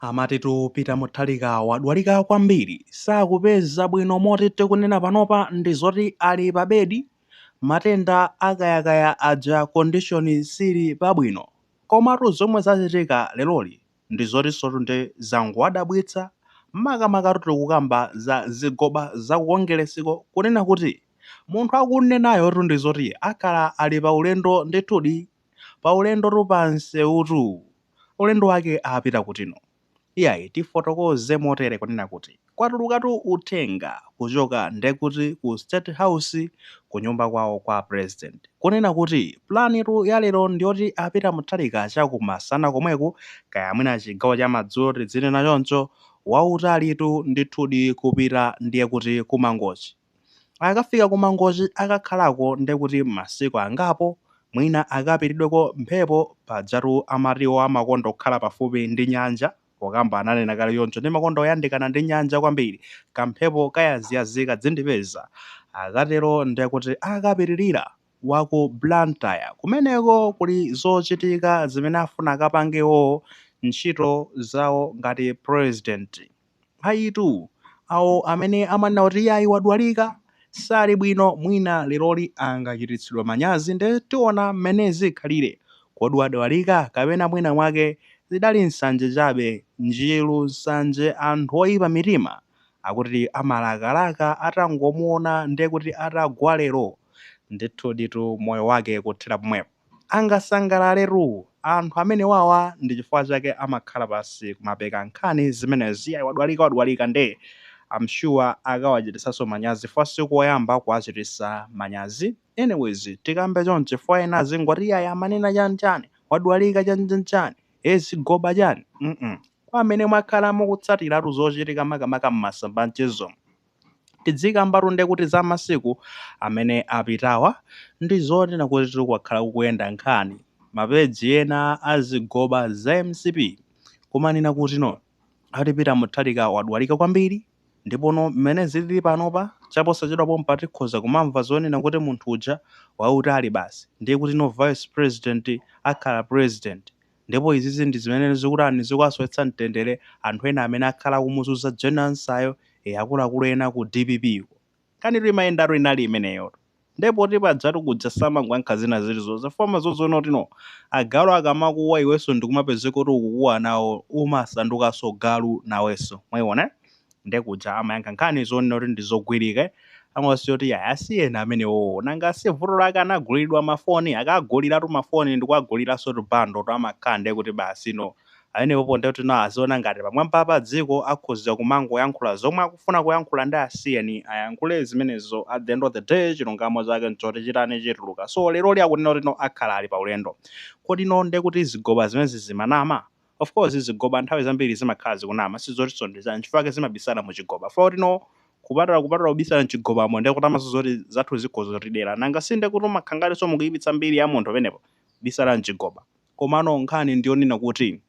Amatitu Peter Mutharika wadwalika kwambiri, sakupeza bwino moti tikunena panopa ndi zoti ali pa bedi, matenda a kayakaya aja condition sili pabwino. Komatu zomwe zachitika leroli ndi zotinsotu ndi zangowadabwitsa makamakatu tikukamba za zigoba za ku Kongelesiko kunena kuti munthu akunenayotu ndi zoti akhala ali pa ulendo ndithudi. pa ulendotu pa nseutu ulendo wake apita kutino? Iyayi tifotokoze motere kunena kuti kwatulukatu uthenga kuchoka ndekuti ku state house kunyumba kwawo kwa president kunena kuti planitu ya lero ndiyoti a Peter Mutharika chaku masana komweku kaya mwina chigawo cha madzulo tidzinena choncho wautalitu ndithudi kupita ndiye kuti ku Mangochi Akafika ku Mangochi akakhalako ndiye kuti masiku angapo, mwina akapididweko mphepo, pajatu amati iwo amakonda kukhala pafupi ndi nyanja, pokamba ananena kale choncho, ndimakonda kuyandikana ndi nyanja kwambiri, kamphepo kayaziyazi kadzindipeza. Akatero ndiye kuti akapitirira wa ku Blantyre. Kumeneko kuli zochitika zimene afuna akapange iwowo, ntchito zawo ngati pulezidenti. Ayitu, awo amene amanena kuti iyayi wadwalika, sali bwino, mwina leroli angachititsidwa manyazi nde tiona mmene zikhalire, kodi wadwalika kapena mwina mwake zidali nsanje chabe, njiru, nsanje, anthu oyipa mitima akuti amalakalaka atangomuona ndekuti atagwa lero, ndithuditu moyo wake kuthera pomwepo. angasangalaletu anthu amenewawa ndi chifukwa chake amakhala pasi kumapeka nkhani zimenezi iyayi wadwalika wadwalika nde am sure akawachitisanso manyazi chifukwa sikoyamba kuwachitisa manyazi anyways tikambe chonche chifukwa ena azingoti iyayi amanena chani chani wadwalika chani chani chani ee zigoba chani mm Kwa amene mwakhala mukutsatiratu zochitika makamaka m'masamba anchezomu, tidzikambatu nde kuti za masiku amene apitawa ndi zonena kutitu kwakhala kukuyenda nkhani ma page ena a zigoba za mcp kumanena kuti no ati Peter Mutharika wadwalika kwambiri ndi pano mmene zilili panopa chaposachedwa pompa tikhoza kumamva zonena kuti munthu uja wautali basi ndiye kuti no vice president akhala president Ndipo izizi ndi zimene zikutani zikuwasowetsa mtendere anthu ena amene akhala akumuzunza Jane Ansah-yo ee akuluakulu ena ku dpp ko. Nkhanitu imayendatu inali imeneyotu. Nde poti pajatu kuja samangoyankha zina zilizonse fo amadzaziona kuti no agalu akamakuwa iwenso ndikumapezeka kuti ukukuwa nawo umasandukanso galu nawenso. Mwaiona? nde kuja amayankha nkhani zonena kuti ndi zogwirike amasiya nkuti yayi asiyeni amenewowo nanga si vuto lake anaguliridwa mafoni akaguliratu mafoni ndikuwaguliraso tu bundle tu amakhala nde kuti basi no pamenepopo nde kuti no aziona ngati pamwambapa pa dziko akhoza kumangoyankhula zomwe akufuna kuyankhula nde asiyeni ayankhule zimenezo at the end of the day chilungamo chake nchoti chitani chituluka so leroli akunena kuti no akhala ali pa ulendo kodi no nde kuti zigoba zimenezi zimanama? Of course zigoba nthawi zambiri zimakhala zikunama sizotinso ndi zoona nchifukwa chake zimabisala mu chigoba chifukwa kuti no kupatula kupatula kubisala mchigobamo ndiye kuti mwinanso zoti anzathu akhoza kutidela nanga si ndiye kuti umakhala ngatinso mukuyipitsa mbiri ya munthu penepo kubisala mchigoba. Komano nkhani ndi yonena kuti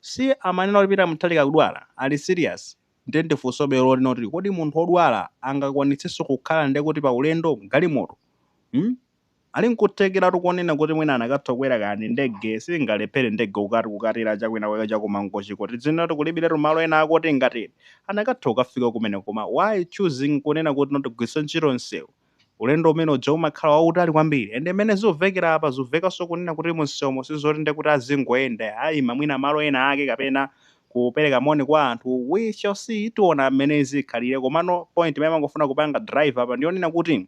si amanena kuti Peter Mutharika akudwala? Ali serious? Ndiye ndi funsobe lonena kuti kodi munthu wodwala angakwanitsenso kukhala ndiye kuti pa ulendo, galimoto? Hmm? Ali nkuthekeratu konena kuti mwina anakatha kukwera kaya ndi ndege, singalephere ndege kukati kukatera cha kwina kwake cha ku Mangochiko, tidziwene kuti kulibiretu malo ena ake oti ingatele, anakatha kukafika kumeneko koma why choosing kunena kuti no tigwiritse ntchito msewu, ulendo umene uja umakhala wautali kwambiri, and mmene zikuvekera apa zikuvekanso kunena kuti mu msewumo sizoti nde kuti azingoyenda, aima mwina malo ena ake kapena kupereka moni kwa anthu, we shall see, tiona mmene zikhalire, komano point imene amangofuna kupanga drive apa ndi yonena kuti.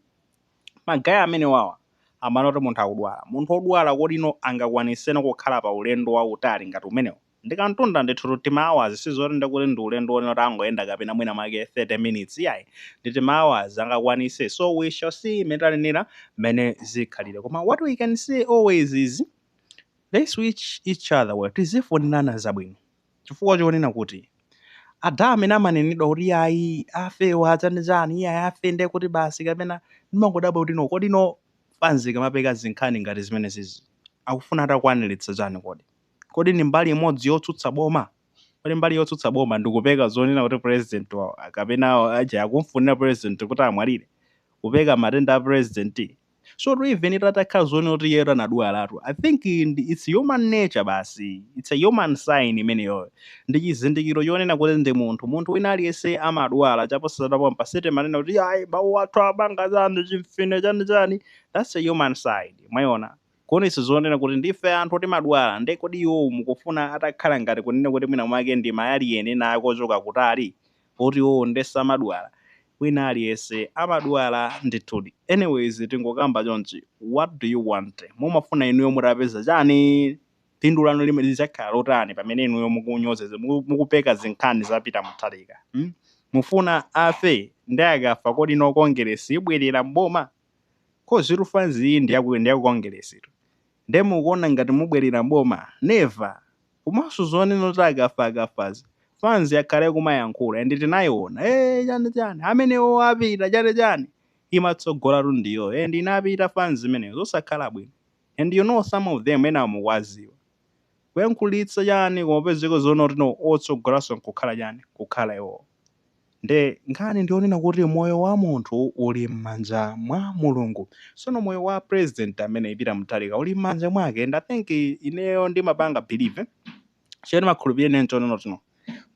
ma guy amenewawa amanena kuti munthu akudwala munthu odwala kodi no angakwaniseno kukhala pa ulendo wautali ngati umenewo ndi kamtunda ndithutu tima hours sizoti ndekuti ndi ulendo onena kuti angoyenda kapena mwina mwake 30 minutes iyayi ndi tima hours angakwanise so we shall see mmene tanenera mmene zikhalire koma what we can say always is let's wish each other well tizifunirana zabwino chifukwa chonena kuti ada amene amanenedwa kuti ayi afewa achani chani iyayi afe ndiye kuti basi kapena ndimangodabwa kuti no kodi no fanzi ikamapeka zinkhani ngati zimene zizi akufuna atakwaniritsa chani kodi kodi ndi mbali imodzi yotsutsa boma kodi mbali yotsutsa boma ndikupeka zonena kuti president wa kapena aja akumfunira president kuti amwalire kupeka matenda a president so even itakhala zoona kuti iyeyo anadwalatu i think ndi- its human nature basi its a human sign imeneyoyo ndi chizindikiro chonena kuti ndi munthu munthu wina aliyense amadwala chaposatatapo pasete timanena kuti ayi mawu athu apanga chani chimfine chani chani thats a human sign mwayiona kuonetsa zonena kuti ndife anthu timadwala nde kodi iwowo mukufuna atakhala ngati kunena kuti mwina mwake ndi mayaliyeni ena akochoka kutali poti iwowo nde samadwala wina aliyense amadwala ndithudi anyways tingokamba chonchi what do you want mumafuna inuyo mutapeza chani phindu lanu limene lizakhala lotani pamene inuyo mukunyozetsa muku, mukupeka zinkhani za pita mutharika hmm? mufuna afe nde akafa kodi no kongeresi ibwerera mboma kozitu fanzi iyi ndiyaku ndiyaku kongeresitu nde mukuona ngati mubwerera mboma never komanso zonena kuti akafa akafazi fans yakaleyo kumayankhula and tinayiona ee eh, chani chani amenewo apita chani chani imatsogola tu ndiyo and inapita fans imeneyo zosakhala bwino and you know some of them ena mukwaziwa kuyankhulitsa chani kumapezeka zonena kuti no otsogolanso nkukhala chani kukhala iwowo Nde nkhani ndiyonena kuti moyo wa munthu uli mmanja mwa mulungu sono moyo wa president ameneyi peter muthalika uli mmanja mwake and i think ineyo ndimapanga believe chimene ndimakhulupirira ine nchonena kuti no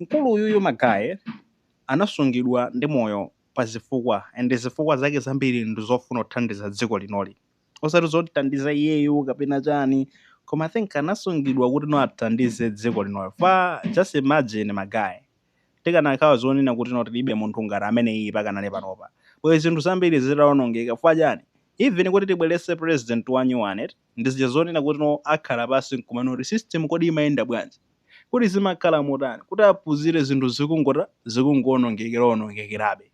mkulu uyuyu magaye anasungidwa ndi moyo pa zifukwa and zifukwa zake zambiri ndi zofuna kuthandiza dziko linoli osati zomthandiza iyeyo kapena chani koma i think anasungidwa kuti no athandize dziko linoli for just imagine magaye Tikanakhala zonena kuti no tilibe munthu ngati ameneyiyi pakanali panopa bwezi zinthu zambiri zitaonongeka chifukwa chani even kuti tibweretse president wa nyuwani eti ndi zija zonena kuti no akhala pansi nkumana kuti system kodi imayenda bwanji kodi zimakhala motani kuti aphunzire zinthu zikungota zikungoonongekera onongekerabe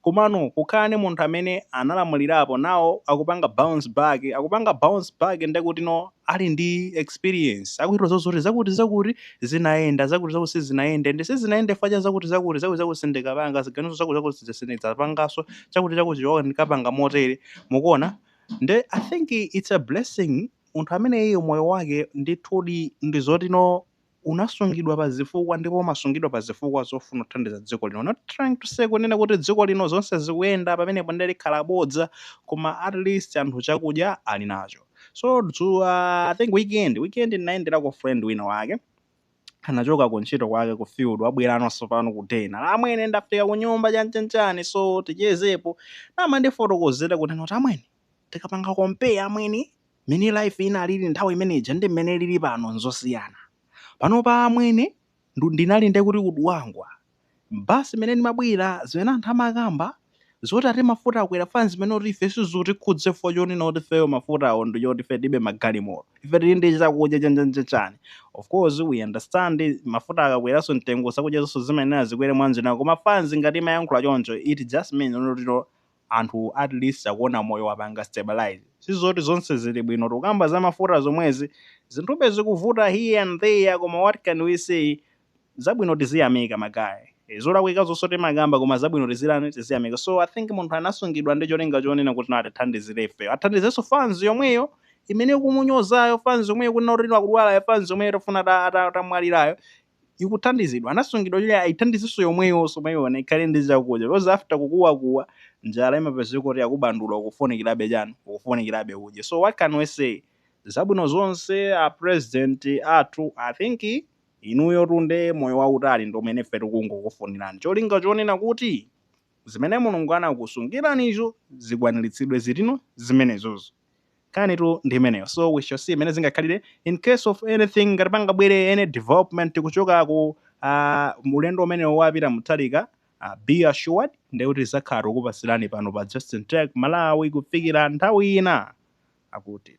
Komano kukhala ndi munthu amene analamulirapo now akupanga bounce back, akupanga bounce back nde kuti no ali ndi experience, akudziwa zoti zakuti zakuti zinayenda, zakuti zakuti sizinayende and sizinayende chifukwa cha zakuti zakuti, zakuti zakuti ndikapanga ziganizo zakuti zakuti zija sindidzapanganso, chakuti chakuti chija ndikapanga motere, mukuona? Nde I think it's a blessing munthu ameneyiyo moyo wake ndithudi ndi zoti no unasungidwa pa zifukwa ndipo umasungidwa pa zifukwa zofuna kuthandiza dziko lino not trying to say kunena kuti dziko lino zonse zikuyenda pamenepo ndiye likhala bodza koma at least anthu chakudya ali nacho so dzulo i think weekend weekend ndinayendera ka friend wina wake anachoka ku ntchito kwake ku field wabwera anonso pano ku den amwene ndafika ku nyumba chanchanchani so tichezepo nde amandifotokozera kunena kuti amwene Tikapanga compare amwene, mmene life inalili nthawi imene ija ndi mmene ilili pano nzosiyana. Panopa amwene, ndu ndinali nde kuti ku Dwangwa, bus imene ndimabwera, zimene anthu amakamba, zoti ati mafuta akwera, fans imanena kuti ife sizutikhudza chifukwa chonena kuti ifeyo mafutawo ndi choti ife tilibe magalimoto, ife tili ndi chakudya chanchanchani. Of course, we understand, mafuta akakweranso mtengo zakudyazo nazonso zimayenera zikwere mwanjira ina, koma fans ngati imayankhula choncho, it just means kuti no, anthu at least akuona moyo wapanga stabilise sizoti zonse zili bwino tukamba za mafuta zomwezi zinthube zikuvuta here and there koma what can we say zabwino tiziyamika magaye zolakwikazonso timakamba koma zabwino tizitani tiziyamika so i think munthu anasungidwa ndi cholinga chonena kuti atithandizire ifeyo athandizenso fans yomweyo imene ikumunyozayo fans yomweyo kunena kuti akudwalayo fans yomweyo itafuna ata- ata- atamwalirayo ikuthandizidwa anasungidwa kuti ayithandizenso yomweyonso mwayiona ikhale ndi chakudya because after kukuwakuwa njala imapezeka kuti yakubandula ukufunikirabe chani ukufunikirabe udye so what can we say zabwino zonse a president athu I think inuyotu nde moyo wautali ndi umene ife tikungokufunirani cholinga chonena kuti zimene Mulungu anakusungiranizo zikwaniritsidwe zili ndi zimenezozo. Nkhanitu ndi imeneyo so we shall see mmene zingakhalire incase of anything ngati pangabwere any development kuchoka ku uh, ulendo umenewo wapita Mutharika uh, be assured ndekuti tidzakhala tikupatsirani pano pa Justin Tech Malawi kufikira nthawi ina akuti